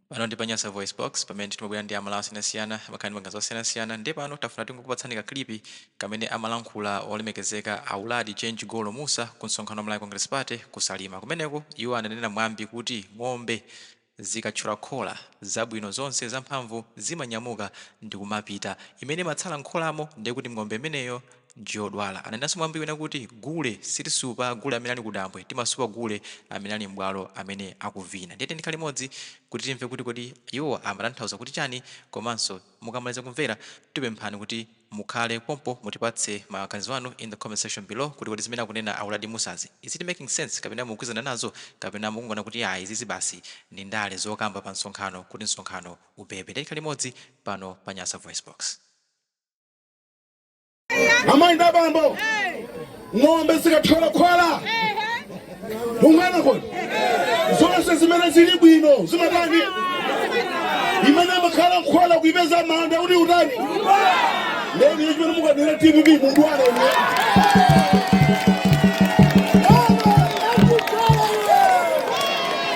pano ndi pa nyasa voice box pamene timabwera ndi amalawi osiyanasiyana amakhala ndi maganizo osiyanasiyana ndiye pano tafuna tingokupatsani kaklipi kamene amalankhula olemekezeka a uladi change golo mussa ku msonkhano wa malawi congress party ku salima kumeneko iwo ananena mwambi kuti ng'ombe zikatchola khola zabwino zonse zamphamvu zimanyamuka ndikumapita imene imatsala mkholamo ndiye kuti ng'ombe imeneyo Njodwala ananenanso mwambi wina kuti, Gule sitisupa gule amene ali kudambwe, timasupa gule amene ali m'bwalo amene akuvina. Ndiye tiyeni tikhale limodzi kuti timve kuti kodi iwowa amatanthauza kuti chani komanso mukamaliza kumvera tikupemphani kuti mukhale pompo mutipatse maganizo anu in the comment section below kuti kodi zimene akunena a Uladi Musazi is it making sense kapena mukugwizana nazo kapena mukungoona kuti iyayi izizi basi ndi ndale zokamba pa msonkhano kuti msonkhano ubebe. Ndiye tikhale limodzi pano pa Nyasa VoiceBox. amayi ndi abambo ng'ombe zikathyola khola ungana kodi zonse zimene zili bwino zimatani imene imakhala mkhola kuipeza manda kuti utani lero iye chimene mukanena dpp munthu alene